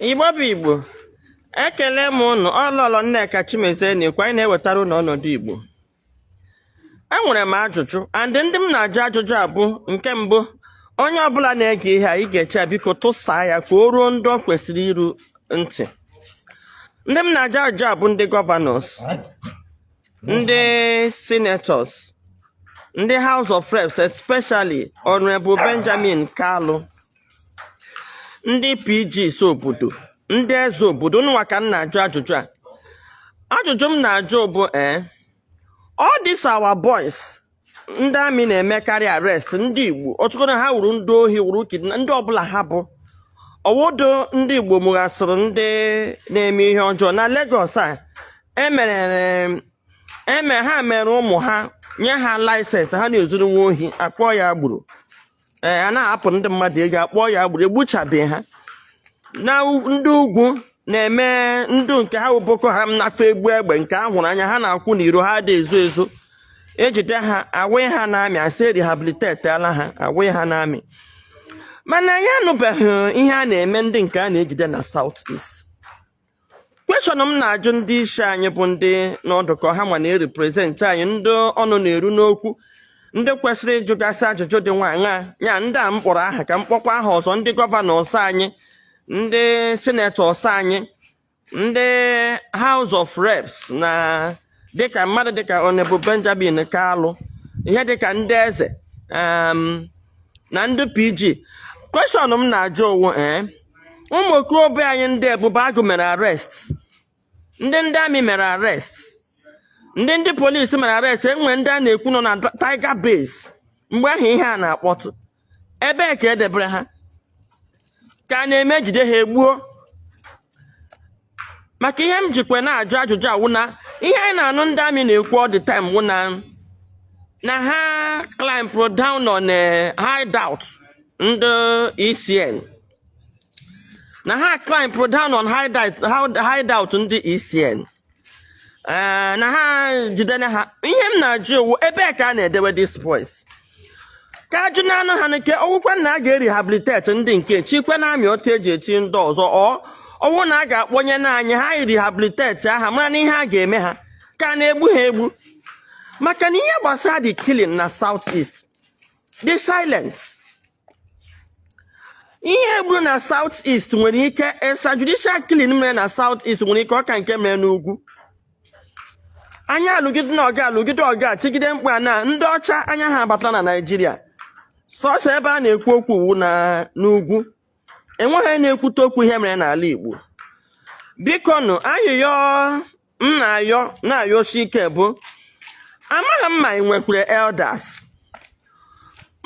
igbo bụ igbo ekele m ụnụ ọ lọlọ nneka chimezie na-ekwu anyị na-ewetara ụnụ ọnọdụ igbo enwere m ajụjụ and ndị m na-ajụ ajụjụ a bụ nke mbụ onye ọbụla na-ege ihe a ị ga-eshare biko tụsaa ya ka o ruo ndị ọ kwesịrị iru ntị ndị m na-ajụ ajụjụ a bụ ndị gọvanọs ndị senators ndị house of reps especially honorable benjamin kalu ndị pgs obodo ndị eze obodo ụnụ nwa ka m na-ajụ ajụjụ a ajụjụ m na-ajụ bụ ee eh, all these our boys ndị amị na-emekarị arrest ndị igbo ọtụtụ na ha wụrụ ndị ohi wụrụ kidna ndị ọbụla ha bụ ọ wụdụ ndị igbo mụchasịrị ndị na-eme ihe ọjọọ na Lagos a emere e ha mere ụmụ ha nye ha laịsensị ha na-ezuru nwa ohi akpọọ ya agbero ee a na-anapụ ndị mmadụ ego akpọọ ya agbero egbuchabeghị ha na ndị ugwu na-eme ndị nke ha bụ boko haram na-akpa egbe egbe nke a hụrụ anya ha na-akwụ n'iro ha adịghị ezo ezo ejide ha ewee ha n'amị asị rehabilitetala ha ewee ha n'amị mana anyị anụbeghị ihe a na-eme ndị nke a na-ejide na South East kweshọn m na-ajụ ndị isi anyị bụ ndị nọdụ ka ha nwa na-ereprezentị anyị ndị ọnụ na-eru n'okwu ndị kwesịrị ịjụgasị ajụjụ dị nwaanyị ya ndị a m kpọrọ aha ka m kpọkwa aha ọzọ ndị gọvanọs anyị ndị sinetọs anyị ndị House of Reps na dịka mmadụ dịka Honorable Benjamin Kalụ ihe dịka ndị eze na ndị PG kweshọn m na-ajụ wụ ee eh, ụmụ okorobịa anyị ndị Ebube Agụ mere arrest ndị ndị amị mere arrest ndị ndị polisi mere arrest enwere ndị a na-ekwu nọ na Tiger Base mgbe ahụ ihe a na-akpọtụ ebee ka edebere ha ka a na-eme ejide ha egbuo maka ihe m jikwa na-ajụ ajụjụ a wụ na ihe anyị na-anụ ndị amị na-ekwu all the time wụ na na ha clampụrụ down on a eh, hideout ndị ECN na ha clampụrụ down on hideout ndị ECN ee na ha jidere ha ihe m na-ajụ wụ ebee ka a na-edewe these boys ka ajụ na anụ ha nke ọ wụkwa na a ga-erehabiliteti ndị nke chikwe na amị otu eji echi ndị ọzọ or ọ wụ na a ga-akpọnye na anyị ha rehabilitetia ha mara na ihe a ga-eme ha ka a na-egbu ha egbu maka na ihe gbasara the killing na south east the silence ihe egburu na South East nwere ike extrajudicial killing mere na South East nwere ike ọ ka nke mere n'ugwu anyị alụgide na ọgụ a alụgide ọgụ a tigide mkpu a na ndị ọcha anya ha abatala na Naịjirịa sọsọ ebe a na-ekwu okwu wu n'ugwu enweghị na-ekwute okwu ihe mere n'ala Igbo biko nụ ayịyọ m na-ayọ na-ayọsi ike bụ amaghị m ma anyị nwekwara elders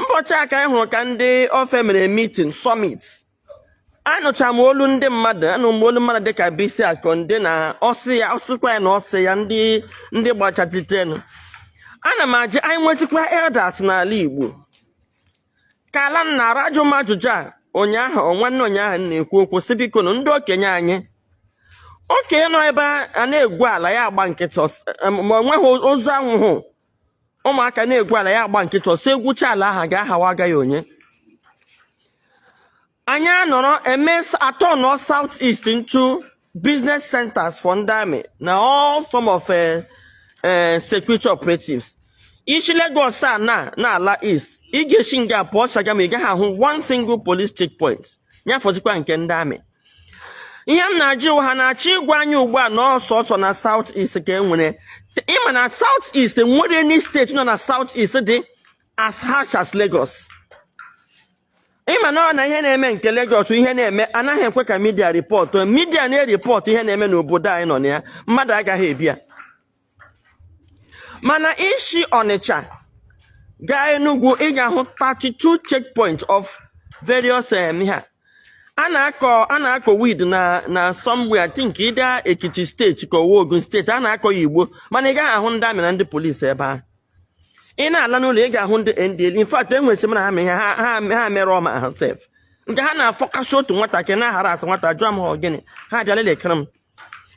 mbọchị a ka anyị hụrụ ka ndị ofe mere meeting summit anụcha m olu ndị mmadụ anụ m olu mmadụ dịka Bisi Akande na ọsị ya ọsịkwa ya na ọsị ya ndị ndị gbachatelitenu ana m ajụ anyị nwechikwa elders n'ala Igbo ka ala m na-ara ajụ m ajụjụ a ụnyaahụ ọ nwanne ụnyaahụ m na-ekwu okwu sị biko na ndị okenye anyị okenye nọ ebe a na-egwu ala ya agba nkịtị ọs- em, ma o nweghị ozu anwụhụ ụmụaka na-egwu ala ya agba nkịtị ọsọ egwucha ala ahụ ga-ahawa agaghị onye anyị anọrọ eme atọnọ south east into business centers for ndị amị na all form of eh, eh, security operatives i si Lagos a na na-ala east ị ga-esi nga pụọ Shagamu ị gaghị ahụ one single police checkpoint ya fọzikwa nke ndị amị ihe m na-ajụ ha na-achọ ịgwa anyị ugbu a na ọ sọsọ na south east ka e nwere ịma na south east enwere any steeti nọ na south east dị as harsh as Lagos ịma na ọ na ihe na-eme nke Lagos ihe na-eme anaghị ekwe ka midia rịpọtụ midia na-eripọtụ ihe na-eme n'obodo anyị nọ na ya mmadụ agaghị ebi ya mana i si Ọnịcha gaa Enugu ị ga-ahụ 32 checkpoint of various um, ha a na-akọ a na-akọ weed na na somewhere I think either Ekiti steeti ka Ogun steeti a na-akọ ya Igbo mana ị gaghị ahụ ndị amị na ndị polisi ebe ahụ ị na-ala n'ụlọ ị ga-ahụ ndị NDLEA in fact e nwere semina ha ma ihe ha ha- ha mere ọma ha sef nke ha na-afọkasị otu nwatakịrị na-ahara asị nwata jụọ m ha ọ gịnị ha bịara lekere m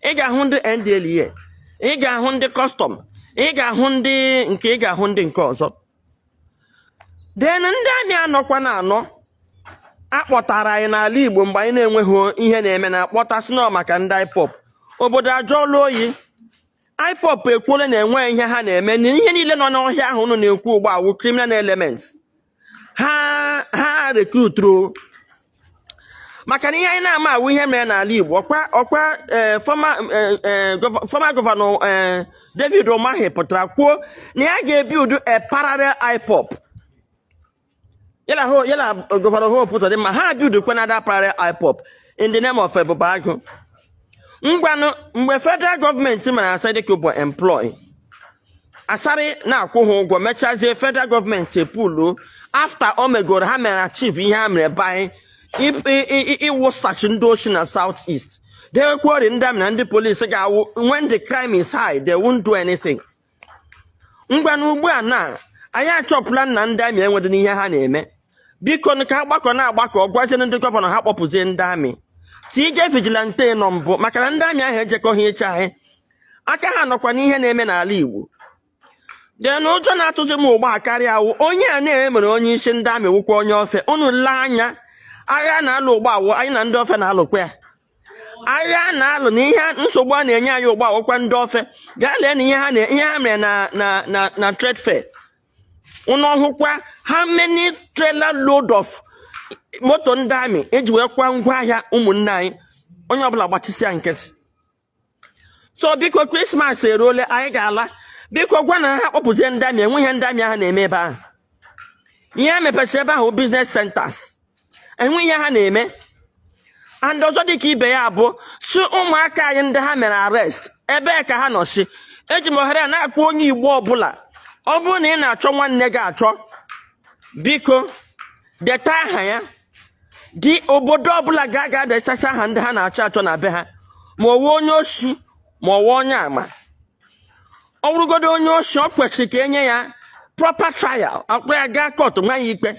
ị ga-ahụ ndị NDLEA ị ga-ahụ ndị kọstọm ị ga-ahụ ndị nke ị ga-ahụ ndị nke ọzọ then ndị amị anọkwa na anọ akpọtara anyị n'ala Igbo mgbe anyị na-enweghị ihe na-eme na akpọta sị na ọ maka ndị IPOB obodo ajọọla oyi IPOB ekwuola na enweghị ihe ha na-eme na ihe niile nọ n'ọhịa ahụ unu na-ekwu ugbu a wụ criminal elements ha ha rekruturu maka na ihe anyị na-ama awụ ihe mere n'ala Igbo ọkwa ọkwa eh, former eh, eh, gov- former gọvanọ eh, David Umahi pụtara kwuo na ya ga-ebuild a parallel IPOB yala governor Hope pụtadị ma ha buildikwa another parallel IPOB in the name of Ebubeagu ngwanụ mgbe federal gọọmenti mere asị dịka ọ bụ employ Asari na-akwụ ha ụgwọ mechazie federal gọọmenti epulu after o megoro ha mere achieve ihe ha mere by ịwụsachi ndị oshi na south east dekwori ndị amị na ndị polisi ga-awụ when the crime is high they won't do anything ngwanụ ugbu a na anyị achọpụla na ndị amị enwedị n'ihe ha na-eme bikonụ ka ha gbakọ na-agbakọ gwazienụ ndị gọvanọ ha kpọpụzie ndị amị tinye vigilante nọ mbụ maka na ndị amị ahụ ejekọghị iche anyị aka ha nọkwa n'ihe na-eme n'ala igbo then ụjọ na-atụzi m ugbu a karịa awụ onye a na-emere onye isi ndị amị wụkwa onye ofe unu lee anya agha a na-alụ ugbu a wụ anyị na ndị ofe na-alụkwa ya agha a na-alụ na ihe nsogbu a na-enye anyị ugbu a wụkwa ndị ofe gaa lee na ihe ha na- ihe ha mere na na na na trade fair unu ọ hụkwa how many trailer load of moto ndị amị eji wee kwaa ngwa ahịa ụmụnne anyị onye ọbụla gbachisịa nkịtị so biko krismas eruole anyị ga-ala biko gwanụ ha kpọpụzie ndị amị enwe ihe ndị amị ahụ na-eme ebe ahụ ihe ha mepechara ebe ahụ business centers enwe ihe ha na-eme and ọzọ dịka ibe ya bụ sị ụmụaka anyị ndị ha mere arrest ebee ka ha nọsi eji m ohere a na-akpọ onye igbo ọbụla ọ bụrụ na ị na-achọ nwanne gị achọ biko deta aha ya dị obodo ọbụla ga-aga dechacha aha ndị ha na-achọ achọ na be ha ma ọ wụ onye oshi ma ọ wụ onye ama ọ bụrụgodo onye oshi ọ kwesịrị ka e nye ya proper trial a kpụrụ ya gaa court nwaa ya ikpe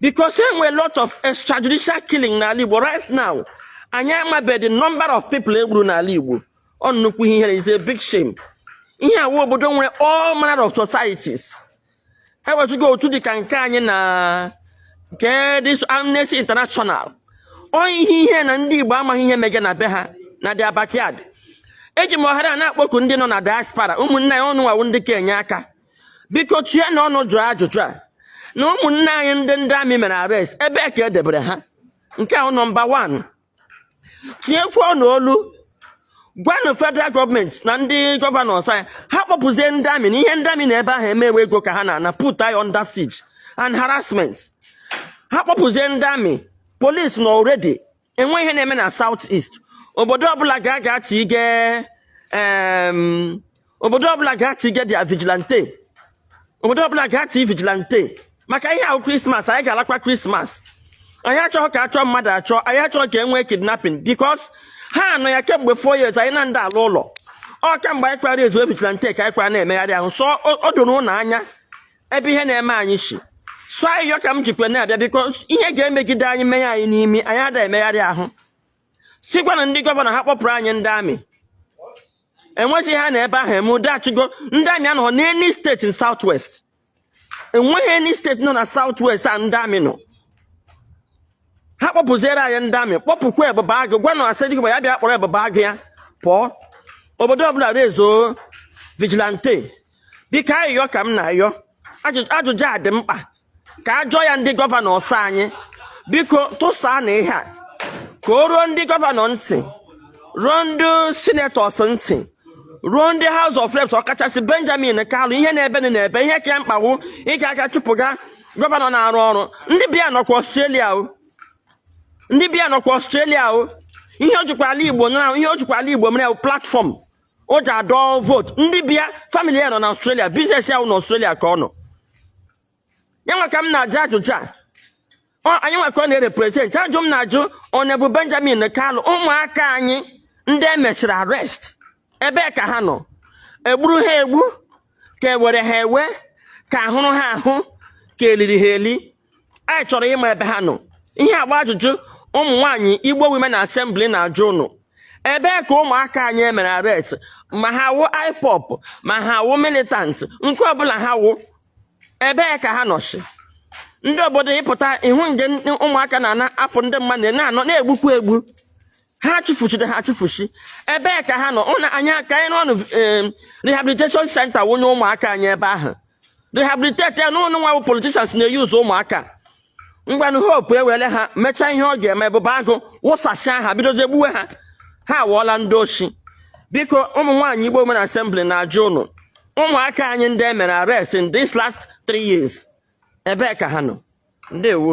because e nwere lot of extrajudicial killing n'ala Igbo right now anyị amabeghị the number of people e gburu n'ala Igbo ọ nnukwu ihere is a big shame ihe a wụ obodo nwere all manner of societies e wezuga otu dị ka nke anyị na nke ndị Amnesty International ọ ihe ihere na ndị Igbo amaghị ihe mege na be ha na their backyard eji m ohere a na-akpọku ndị nọ na diaspora ụmụnne anyị unu nwa wụ ndị ka enye aka biko tụọnụ ọnụ jụọ ajụjụ a na ụmụnne anyị ndị ndị amị mere arrest ebee ka e debere ha nke ahụ nọmba 1 tinyekwuonụ olu gwanụ federal gọọmenti na ndị gọvanọs anyị ha kpọpụzie ndị amị na ihe ndị amị nọ ebe ahụ eme wụ ego ka ha na-ana put anyị under siege and harassment ha kpọpụzie ndị amị polisi nọ already enwe ihe na-eme na south east obodo ọbụla ga-aga tige obodo ọbụla ga-activate their vigilante obodo ọbụla ga-activate vigilante maka ihe ahụ krismas anyị ga-alakwa krismas anyị achọghị ka achọọ mmadụ achọ anyị achọghị ka e nwee kidnapping because ha anọ ya kemgbe four years anyị anaghị ala ụlọ ọ kemgbe anyị kpara raise vigilante ka anyị kpara na-emegharị ahụ so o doro ụnụ anya ebe ihe na-eme anyị si so ayịyọ ka m jikwa na-abịa biko ihe ga-emegide anyị menye anyị n'imi anyị ada emegharị ahụ sịkwanụ ndị gọvanọ ha kpọpụrụ anyị ndị amị enweghị ha nọ ebe ahụ eme ụdị achụgo ndị amị anọghị n'any state south west enweghị any state nọ na south west a ndị amị nọ ha kpọpụziere anyị ndị amị kpọpụkwa ebube agụ gwanụ Asari Dokubo ya bịa kpọrọ ebube agụ ya pụọ obodo ọbụla raise vigilante biko ayịyọ ka m na-ayọ ajụjụ a dị mkpa ka a jụọ ya ndị gọvanọs anyị biko tụsaanụ ihe a ka o ruo ndị gọvanọ ntị ruo ndị sinetọs ntị ruo ndị House of Reps ọkachasị Benjamin Kalu ihe na-ebe na ebe ihe ka ya mkpa wụ ịga aga chụpụga gọvanọ na-arụ ọrụ ndị be ya nọkwa Australia o ndị be ya nọkwa Australia o ihe o jikwa ala Igbo na ihe o jikwa ala Igbo mere platform o ji adọ vote ndị be ya family ya nọ na Australia business ya wụ na Australia ka ọ nọ ya nwa ka m na-ajụ ajụjụ a Ọ- anyị nwa ka ọ na-erepresent ajụ m na-ajụ onye bụ Benjamin Kalu ụmụaka anyị ndị e mesịrị arrest ebee ka ha nọ egburu ha egbu ka ewere ha ewe ka ahụrụ ha ahụ ka eliri ha eli anyị chọrọ ịma ebe ha nọ ihe a bụ ajụjụ ụmụ nwaanyị Igbo Women Assembly na-ajụ ụnụ ebee ka ụmụaka anyị emere arrest ma ha wụ IPOB ma ha wụ militant nke ọbụla ha wụ ebee ka ha nọsị ndị obodo ịpụta ihu nje ụmụaka na-apụ ndị mmadụ na-anọ na-egbukwu egbu ha achụfuchiri ha achụfuchi ebee ka ha nọ ụna anyị ka anyị n'ọnụ rehabilitation center wụnye ụmụaka anyị ebe ahụ rehabilitate ya na ụnụ nwa bụ politicians na-euse ụmụaka ngwanụ Hope ewere ha mechaa ihe ọ ga-eme ebube agụ wụsasịa ha bidozie gbuwe ha ha awụọla ndị oshi biko ụmụ nwaanyị Igbo Women Assembly na-ajụ ụnụ ụmụaka anyị ndị e mere arrest in this last three years ebee ka ha nọ ndewo